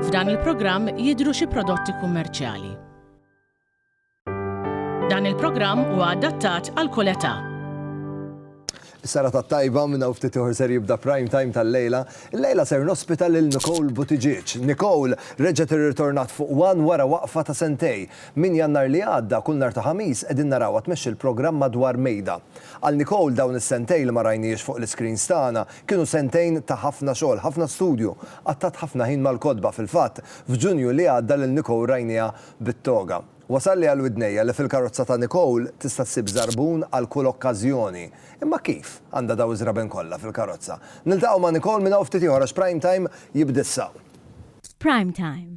F'dan il-programm jidhru xi prodotti kummerċjali. Dan il-programm huwa adattat għal kull età. Is-sara tat-tajba minn hawn ftit ieħor ser jibda prime time tal-lejla. Il-lejla ser nospita lil Nicole Buttigieg. Nicole reġgħet irritornat fuq One wara waqfa ta' sentej. Minn Jannar li għadda, kull nhar ta' Ħamis qegħdin narawha tmexxi l-programm Madwar Mejda. Għal Nicole dawn is-sentejn li ma rajnihiex fuq l-iscreens tagħna kienu sentejn ta' ħafna xogħol, ħafna studju. Qatgħat ħafna ħin mal-kotba, fil-fatt, f'Ġunju li għadda lil Nicole rajniha bit-toga. Wasalli għal widnejja li fil-karozza ta' Nicole tista' ssib żarbun għal kull okkażjoni. Imma kif? Għandha daw iż-żraben kollha fil-karozza? Niltaqgħu ma' Nicole minn hawn ftit ieħor għax Prime Time jibda issa. F'Prime Time,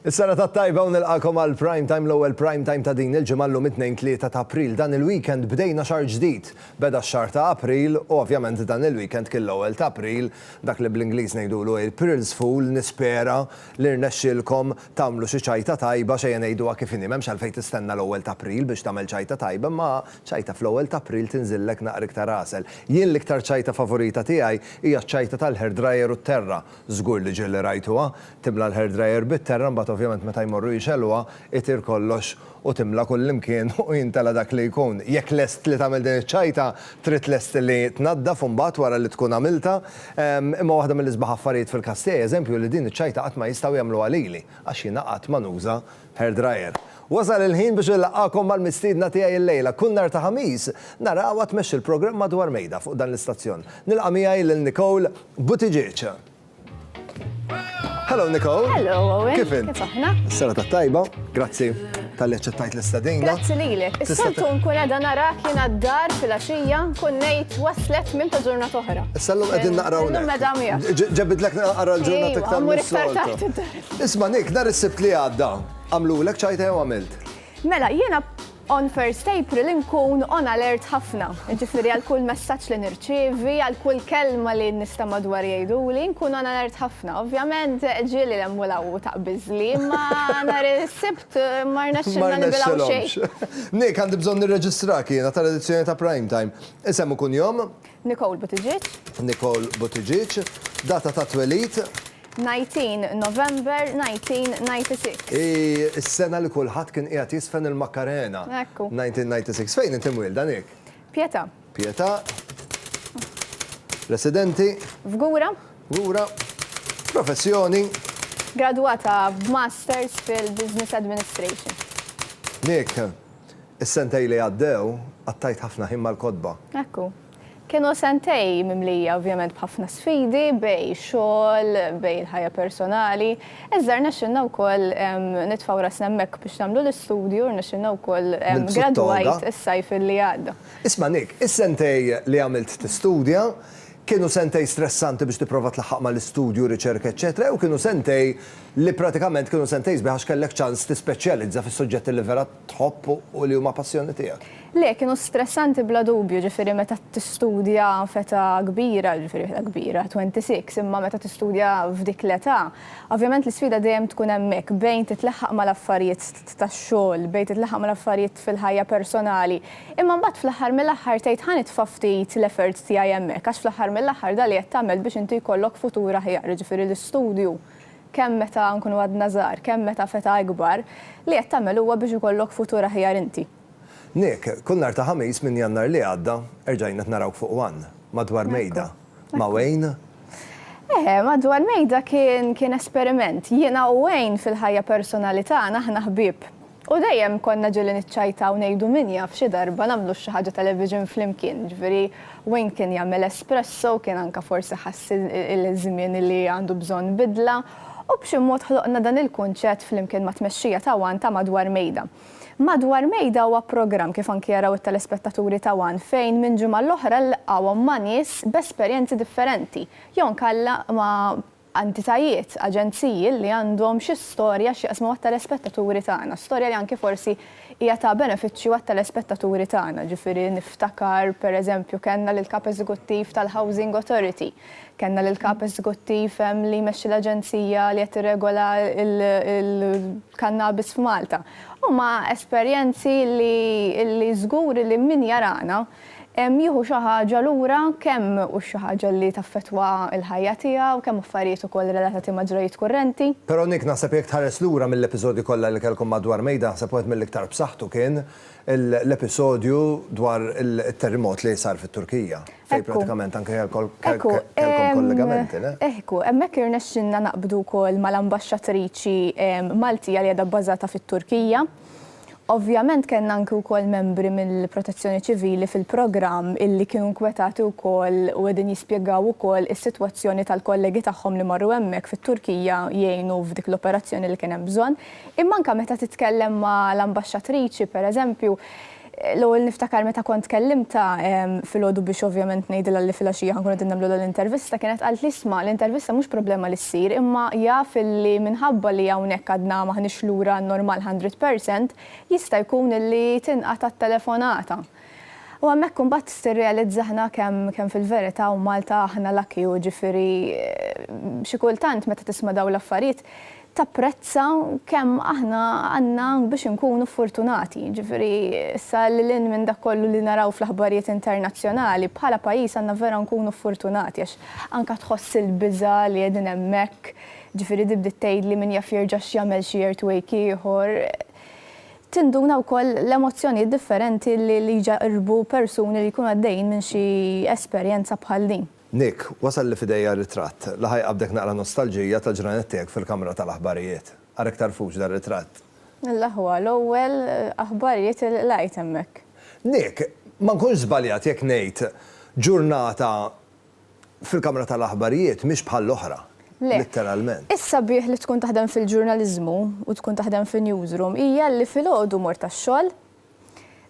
Is-sena tat-tajba u nilqagħkom għal Prime Time, l-ewwel Prime Time ta' din il-ġimgħa llum it-Tnejn 3 ta' April. Dan il-weekend bdejna xahar ġdid. Beda x-xahar ta' April u ovvjament dan il-weekend kien l-ewwel ta' April, dak li bl-Ingliż ngħidulu April's Fool, nispera li rnexxielkom tagħmlu xi ċajta tajba, x'ejja ngħiduha kif inhi, m'hemmx għalfejn tistenna l-ewwel ta' April biex tagħmel ċajta tajba imma ċajta fl-ewwel ta' April tinżillek naqra iktar għasel. Jien l-iktar ċajta favorita tiegħi hija ċ-ċajta tal-hair dryer u t-terra. Żgur li ġieli rajtuha, timla l-hair dryer bit-terra mbagħad ovvjament meta jmorru jixegħluha itir kollox u timla kullimkien u jintela' dak li jkun. Jekk lest li tagħmel din iċ-ċajta, trid lest li tnaddaf imbagħad wara li tkun għamiltha. Imma waħda mill-isbaħ affarijiet fil-każ tiegħi eżempju li din iċ-ċajta qatt ma jistgħu jagħmluha lili għax jiena qatt ma nuża Hair Dryer. Wasal il-ħin biex inlaqqagħkom mal-mistiedna tiegħi illejla. Kull nhar ta' Ħamis narahwa tmexxi l-programm Madwar Mejda fuq dan l-istazzjon. Nilqa' miegħi lil Nicole Buttigieg. Hello Nicole. Hello Owen. Kif int? Kif aħna? Is-serata t-tajba. Grazzi tal-li aċċettajt l-istadina. Grazzi lilek. Is-soltu nkun qiegħda narak jien għad-dar fil-għaxija nkun ngħid waslet minn ta' ġurnata oħra. Is-sallum qegħdin naqraw. Ġebidlek naqra l-ġurnata iktar. Mur iktar taħt Isma' Nick, nhar is-Sibt li għadda, għamlulek ċajta jew għamilt? Mela, jiena on first April inkun on alert ħafna. Jiġifieri għal kull messaġġ li nirċievi, għal kull kelma li n-nisa madwar jgħiduli, nkun on alert ħafna. Ovvjament ġieli l-hemm u l-hawn u taqbiżli, imma nhar is-Sibt ma rnexxilna nibilgħu xejn. Nick, għandi bżonn nirreġistrak jiena tal-edizzjoni ta' Prime Time. Isem u kunjom? Nicole Buttigieg. Nicole Buttigieg. Data tat-twelid? 19 November 1996. Hi s-sena li kulħadd kien qiegħed jiżfen il-Makkarena. Ekku. 1996. Fejn inti mwielda, Nick? Pietà. Pietà. Residenti? F'Gura. Gura. Professjoni? Gradwata b'Masters fil-Business Administration. Nick, is-sentejn li għaddew qattajt ħafna ħin mal-kotba. Ekku. Kienu sentej mimlija ovvjament b'ħafna sfidi bejn xogħol, bejn il-ħajja personali, iżda rnexxilna wkoll nitfgħu rasna hemmhekk biex nagħmlu l-istudju, rnexxilna wkoll gradwajt is-sajf li għadda. Isma' Nick, is-sentej li għamilt tistudja, kienu sentej stressanti biex tipprova tlaħħaq mal-istudju, riċerka eċċetera jew kienu sentej li pratikament kienu sentej sbieħ għax kellek ċans tispeċjalizza fis-suġġetti li vera tħobb u li huma passjoni tiegħek. Le, kienu stressanti bla dubju, ġifieri meta tistudja f'età kbira, ġifieri f'età kbira, 26, imma meta tistudja f'dik l-età, ovvjament l-isfida dejjem tkun hemmhekk bejn titlaħħaq mal-affarijiet tax-xogħol, bejn titlaħħaq mal-affarijiet fil-ħajja personali, imma mbagħad fl-aħħar mill-aħħar tgħid ħa nitfa' ftit l-efforts tiegħi hemmhekk għax fl-aħħar mill-aħħar dan li qed tagħmel biex inti jkollok futur aħjar, jiġifieri l-istudju. kemm meta nkunu għadna żgħar, kemm meta f'età ikbar, li qed tagħmel huwa biex ikollok futur aħjar inti. Nick, kull nhar ta' Ħamis minn Jannar li għadda, erġajna qed narawk fuq one, madwar mejda, ma' Wayne? Eh, madwar mejda kien, kien esperiment. Jiena u Wayne fil-ħajja personali tagħna aħna ħbieb. U dejjem konna ġieli niċċajtaw ngħidu min jaf xi darba nagħmlux xi ħaġa television flimkien, jiġifieri Wayne kien jagħmel espresso, kien anke forsi ħass il-żmien li għandu bżonn bidla, u b'xi mod ħloqna dan il-kunċett flimkien mat-tmexxija ta' one ta' Madwar Mejda. Madwar Mejda huwa programm kif anki jaraw it-telespettaturi ta' one fejn minn ġimgħa l-oħra nlqgħuhom ma' nies b'esperjenzi differenti, jew nkella ma' entitajiet, aġenziji li għandhom xi storja x'jaqsmu mat-telespettaturi tagħna, storja li anki forsi hija ta' benefiċċju għat-telespettaturi tagħna. Ġifieri niftakar pereżempju kellna lill-Kap Eżekuttiv tal-Housing Authority, kellna lill-Kap Eżekuttiv li jmexxi l-aġenzija li qed tirregola l-kannabis f'Malta. Huma esperjenzi li żgur li min jarana, Jieħu xi ħaġa lura, kemm hux xi ħaġa li taffettwa l-ħajja tiegħu, kemm affarijiet ukoll relatati ma' ġrajjiet kurrenti. Però Nick, naħseb jekk tħares lura mill-episodji kollha li kellkom madwar Mejda, naħseb wieħed mill-iktar b'saħħtu kien l-episodju dwar it-terrimot li sar fit-Turkija, fejn prattikament anke kellkom kollegamenti, le? Ehku, hemmhekk irnexxilna naqbdu wkoll mal-ambaxxatriċi Maltija li qiegħda bbażata fit-Turkija. Ovvjament kellna anki wkoll membri mill-Protezzjoni Ċivili fil-programm illi kienu nkwetati wkoll u qegħdin jispjegaw ukoll is-sitwazzjoni tal-kollegi tagħhom li marru hemmhekk fit-Turkija jgħinu f'dik l-operazzjoni li kien hemm bżonn. Imma anke meta titkellem ma' l-Ambaxxatriċi, pereżempju, L-ewwel niftakar meta kont kellimtha filgħodu biex ovvjament ngħidilha li filgħaxija ħankunu qegħdin nagħmlu l-intervista, kienet qaltli isma' l-intervista mhux problema li ssir imma jaf illi minħabba li hawnhekk għadna m'aħniex lura għan-normal hundred percent jista' jkun illi tinqata' t-telefonata. U hemmhekk imbagħad tirrealizza aħna kemm kemm fil-verità u Malta aħna lucky u ġifieri xi kultant meta tisma' dawn l-affarijiet tapprezza kemm aħna għandna biex inkunu furtunati, jiġifieri issa lil hinn minn dak kollu li naraw fl-aħbarijiet internazzjonali, bħala pajjiż għandna vera nkunu furtunati għax anke tħoss il-biża' li qegħdin hemmhekk, jiġifieri di bdiet tgħidli min jaf jerġa' x'jagħmel xi earthwake ieħor. Tinduna wkoll l-emozzjonijiet differenti li jġarrbu persuni li jkunu għaddejjin minn xi esperjenza bħal din. Nick, wasalli f'idejja ritratt li ħa jqabbdek naqra nostalġija tal-ġranet tiegħek fil-kamra tal-aħbarijiet. Ara iktar fuq dar-ritratt. L-aħwa, l-ewwel aħbarijiet li qlajt hemmhekk. Nick, ma nkunx żbaljat jekk ngħid ġurnata fil-kamra tal-aħbarijiet mhix bħall-oħra, litteralment. Le. Is-sabiħ li tkun taħdem fil-ġurnaliżmu u tkun taħdem fin-newsroom hija li filgħodu mort għax-xogħol,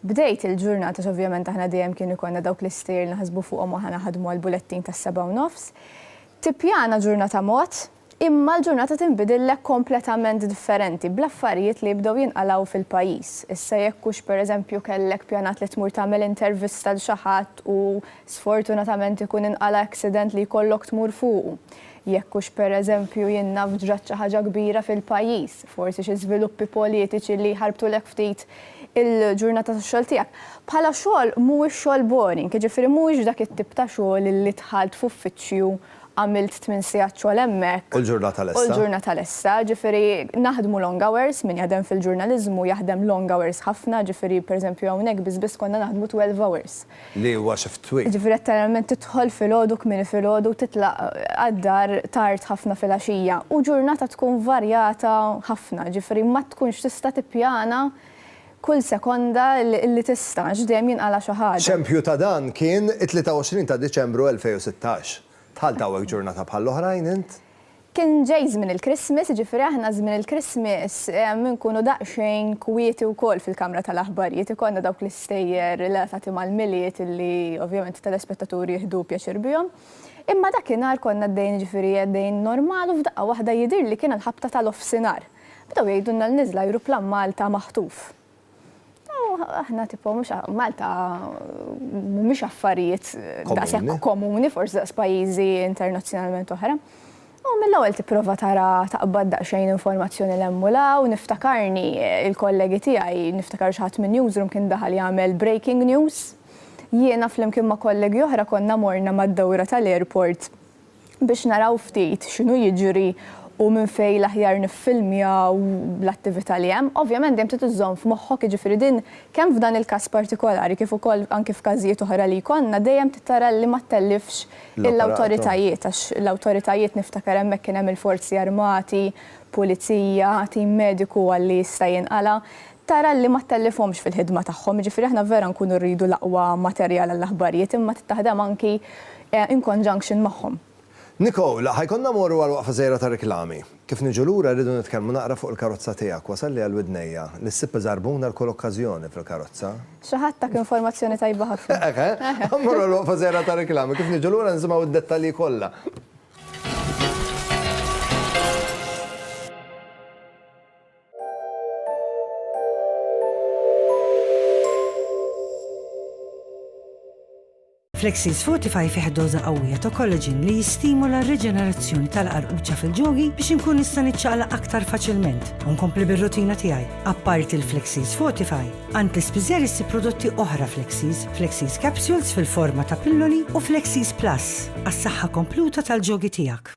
Bdejt il-ġurnata għax ovvjament aħna dejjem kien ikollna dawk l-istejjer li naħsbu fuqhom u aħna naħdmu għall-bulettin tas-sebgħa u nofs. Tippjana ġurnata mod, imma l-ġurnata tinbidillek kompletament differenti bl-affarijiet li jibdew jinqalgħu fil-pajjiż. Issa jekk hux pereżempju kellek pjanat li tmur tagħmel intervista 'l xi ħadd u sfortunatament ikun inqala' accident li jkollok tmur fuqu. Jekk hux pereżempju jien naf ġrat xi ħaġa kbira fil-pajjiż, forsi xi żviluppi politiċi li jħarbtulek ftit il-ġurnata tax-xogħol tiegħek. Bħala xogħol mhuwiex xogħol boring, jiġifieri mhuwiex dak it-tip ta' xogħol li dħalt f'uffiċċju, għamilt tmien sigħat xogħol hemmhekk, U l-ġurnata lesta. u l-ġurnata lesta, jiġifieri naħdmu long hours, min jaħdem fil-ġurnaliżmu jaħdem long hours ħafna, jiġifieri pereżempju hawnhekk biss biss konna naħdmu twelve hours. Li huwa xi ftit twil. Jiġifieri letteralment tidħol filgħodu kmieni filgħodu u titlaq għad-dar tard ħafna filgħaxija. U ġurnata tkun varjata ħafna, jiġifieri ma tkunx tista' tippjana kull sekonda li tista' għax dejjem jinqala' xi ħaġa. Xempju ta' dan kien it-23 ta' Diċembru 2016. Dħalt hawnhekk ġurnata bħall-oħrajn int? Kien ġej żmien il-Christmas, jiġifieri aħna żmien il-Christmas inkunu daqsxejn kwieti wkoll fil-kamra tal-aħbarijiet, ikollna dawk l-istejjer relatati mal-Milied li ovvjament it-telespettaturi jieħdu pjaċir bihom. Imma dakinhar konna għaddejjin jiġifieri għaddejjin normal u f'daqqa waħda jidhirli kien il-ħabta tal-offsinhar. Bdew jgħidulna li niżel ajruplan Malta maħtuf. aħna tipo mhux Malta mhumiex affarijiet daqshekk komuni forsi daqs pajjiżi internazzjonalment oħra. U mill-ewwel tipprova tara taqbad daqsxejn informazzjoni l hemm u law, niftakarni il-kollegi tiegħi niftakar xi ħadd minn newsroom kien daħal jagħmel breaking news. Jiena flimkien ma' kollegi oħra konna morna mad-dawra tal-airport biex naraw ftit x'inhu jiġri u minn fejn l-aħjar niffilmjaw l-attività li hemm. Ovvjament dejjem trid iżżomm f'moħħok, jiġifieri din kemm f'dan il-każ partikolari kif ukoll anki f'każijiet oħra li jkollna dejjem trid tara li ma ttellifx l-awtoritajiet għax l-awtoritajiet niftakar hemmhekk kien hemm il-Forzi Armati, Pulizija, tim mediku għal li jista' jinqala', tara li ma ttellifhomx fil-ħidma tagħhom. Jiġifieri aħna vera nkunu rridu l-aqwa materjal għall-aħbarijiet imma trid taħdem anki in conjunction magħhom. Nicole, Ħa jkollna mmorru għal waqfa żgħira ta' riklami. Kif niġu lura rridu nitkellmu naqra fuq il-karozza tiegħek, wasalli għal widnejja li ssib iżarbun għal kull okkażjoni fil-karozza. Xi ħadd tak informazzjoni tajba ħafna. Hekk, eh? Ħa mmorru għal waqfa żgħira ta' riklami, kif niġu lura nisimgħu d-dettalji kollha. Flexis Fortify fih doża qawwija ta' collagen li jistimula r-riġenerazzjoni tal-qarquċċa fil-ġogi biex inkun nista' niċċaqlaq aktar faċilment u nkompli bir-rutina tiegħi. Apparti l-Flexis Fortify, għand l-ispiżer issib prodotti oħra Flexis, Flexis Capsules fil-forma ta' pilloli u Flexis Plus għas-saħħa kompluta tal-ġogi tiegħek.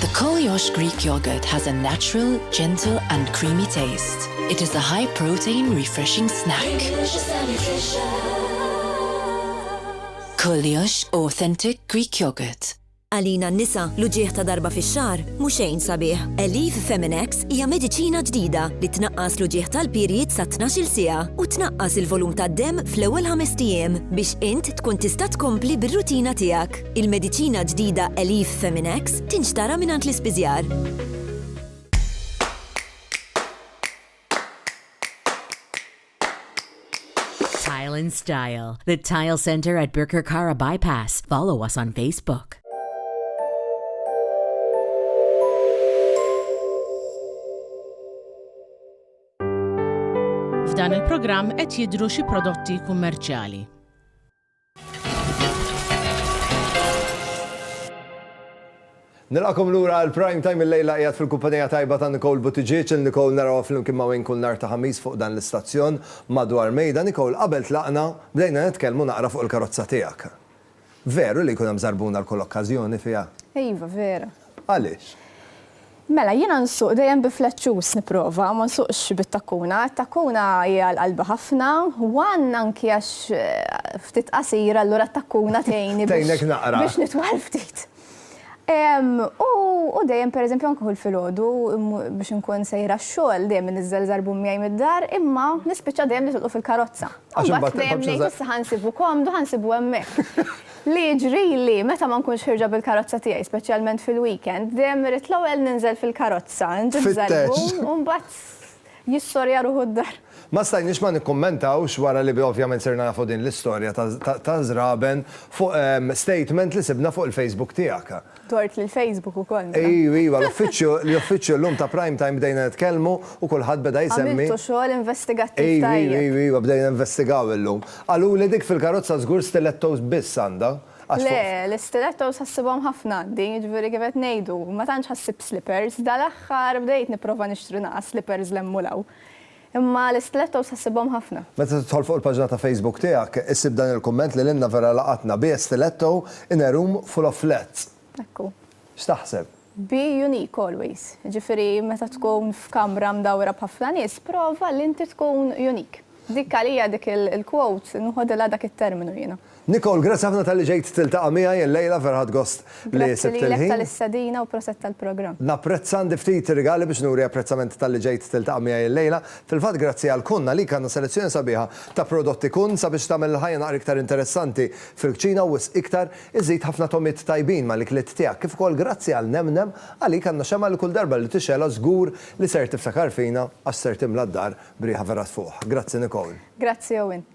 The Koliosh Greek Yogurt has a natural, gentle and creamy taste. It is a high protein refreshing snack. Koliosh Authentic Greek Yogurt. Għalina n-nisa, l-uġigħ ta' darba fix-xahar mhu xejn sabiħ. Elif Feminex hija mediċina ġdida li tnaqqas l-uġigħ tal-period sa 12-il siegħa u tnaqqas il-volum tad-demm fl-ewwel ħamest ijiem biex int tkun tista' tkompli bir-rutina tiegħek. Il-mediċina ġdida Elif Feminex tinxtara mingħand l-ispiżjar. Tile and Style, the Tile Center at Birkirkara Bypass. Follow us on Facebook. F'dan il-programm qed jidru xi prodotti kummerċjali. Nilqakom lura għal Prime Time il-lejla qiegħed fil-kumpanija tajba ta' Nicole Buttigieg, il Nicole narawha flimkien ma' Wayne kull nhar ta' Ħamis fuq dan l-istazzjon madwar mejda. Nicole, qabel tlaqna, bdejna nitkellmu naqra fuq il-karozza tiegħek. Veru li jkun hemm żarbuna għal kull okkażjoni fiha? Iva, vera. Għaliex? Mela, jiena nsuq dejjem bi flat shoes nipprova, ma nsuqx bit-takkuna. It-takkuna hi għal qalbi ħafna, one anki għax ftit qasir allura t-takkuna tgħinni biex nitwal ftit. U dejjem per eżempju anki hu l-filgħodu biex inkun sejra x-xogħol dejjem iniżżel żarbun miegħi mid-dar imma nispiċċa dejjem nitilqu fil-karozza. Imbagħad dejjem ngħid issa ħa nsibu komdu ħa nsibu hemmhekk. Li jiġrili, meta ma nkunx ħierġa bil-karozza tiegħi, speċjalment fil-weekend, dejjem irrid l-ewwel ninżel fil-karozza, nġib żelbu u mbagħad jissorja ruħu d-dar. Ma stajniex ma nikkummentawx wara li ovvjament sirna nafu din l-istorja ta' Żraben fuq statement li sibna fuq il-Facebook tiegħek. Tort lil Facebook ukoll. Ejju, iva, l-uffiċċju, l-uffiċċju llum ta' Prime Time bdejna nitkellmu u kulħadd beda jsemmi. Għamiltu xogħol investigattiv tajjeb. Ejju, ejju, ejju, bdejna investigaw illum. Qaluli dik fil-karozza żgur stilettos biss għandha. Le, l-istilettos ħassibhom ħafna għandi, jiġifieri kif qed ngħidu, ma tantx ħassib slippers, dal-aħħar bdejt nipprova nixtri naqas slippers 'l hemm u 'l hawn. Imma l-istilettos ħassibhom ħafna. Meta tidħol fuq il-paġna ta' Facebook tiegħek, issib dan il-kumment li lilna vera laqatna, Be a stiletto in a room full of flats. Hekk hu. X'taħseb? Be unique always. Jiġifieri meta tkun f'kamra mdawwra b'ħafna nies, prova li inti tkun unique. Dik għalija dik il-quote nħodilha dak it-terminu jiena. Nicole, grazzi ħafna talli ġejt tiltaqa' miegħi illejla, vera ħadt gost li sibt il-ħin. Grazzi lilek tal-istedina u proset tal-programm. Napprezza, għandi ftit rigali biex nuri apprezzament talli ġejt tiltaqa' miegħi illejla. Fil-fatt grazzi għal Kun għalik għandna selezzjoni sabiħa ta' prodotti Kun sabiex tagħmel il-ħajja naqra iktar interessanti fil-kċina u wisq iktar, iżżid ħafna togħmiet tajbin mal-ikliet tiegħek. Kif ukoll grazzi għal Nem Nem, għalik għandna xemgħa li kull darba li tixgħelha żgur li ser tiftakar fina għax ser timla d-dar b'riħa vera tfuħ. Grazzi Nicole. Grazzi Owen.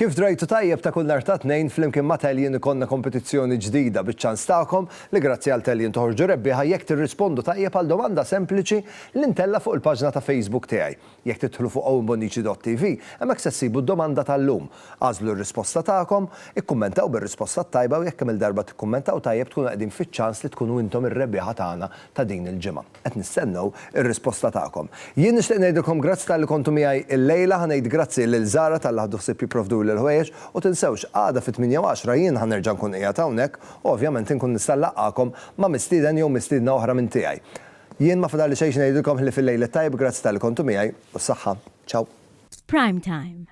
Kif drajtu tajjeb ta' kull nhar ta' Tnejn flimkien ma' Talion ikollna kompetizzjoni ġdida biċ-ċans tagħkom li grazzi għal Talion toħorġu rebbieħa jekk tirrispondu tajjeb għal domanda sempliċi li ntella' fuq il-paġna ta' Facebook tiegħi. Jekk tidħlu fuq owenbonnici.tv hemmhekk se ssibu d-domanda tal-lum. Agħżlu r-risposta tagħkom, ikkummentaw bir-risposta t-tajba u jekk kemm-il darba tikkummentaw tajjeb tkunu qegħdin fiċ-ċans li tkunu intom ir-rebbieħa tagħna ta' din il-ġimgħa. Qed nistennew ir-risposta tagħkom. Jien nixtieq ngħidilkom grazzi talli kontu miegħi illejla, ħa ngħid grazzi lil Zara talli ħadu ħsieb jipprovduli l-ħwejjeġ u tinsewx għada fit-tmienja u għaxra jien ħa nerġa' nkun qiegħed hawnhekk u ovvjament inkun nista' nlaqqagħkom ma' mistieden jew mistiedna oħra minn tiegħi. Jien ma fadalli xejn x'ngħidilkom ħlief il-lejl it-tajjeb grazzi talli kontu miegħi u s-saħħa. Ciao. F'Prime Time.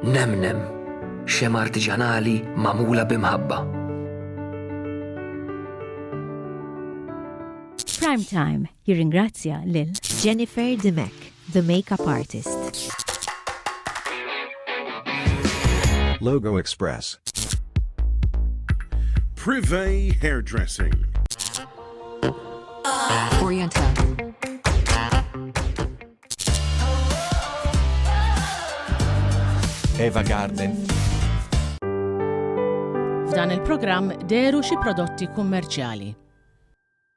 Nemnem, xema artiġanali magħmula b'imħabba. Prime Time jirringrazzja lil Jennifer Dimek, the makeup artist. Logo Express. Privé Hairdressing. Oriental. Eva Garden. F'dan il-programm deru xi prodotti kummerċjali.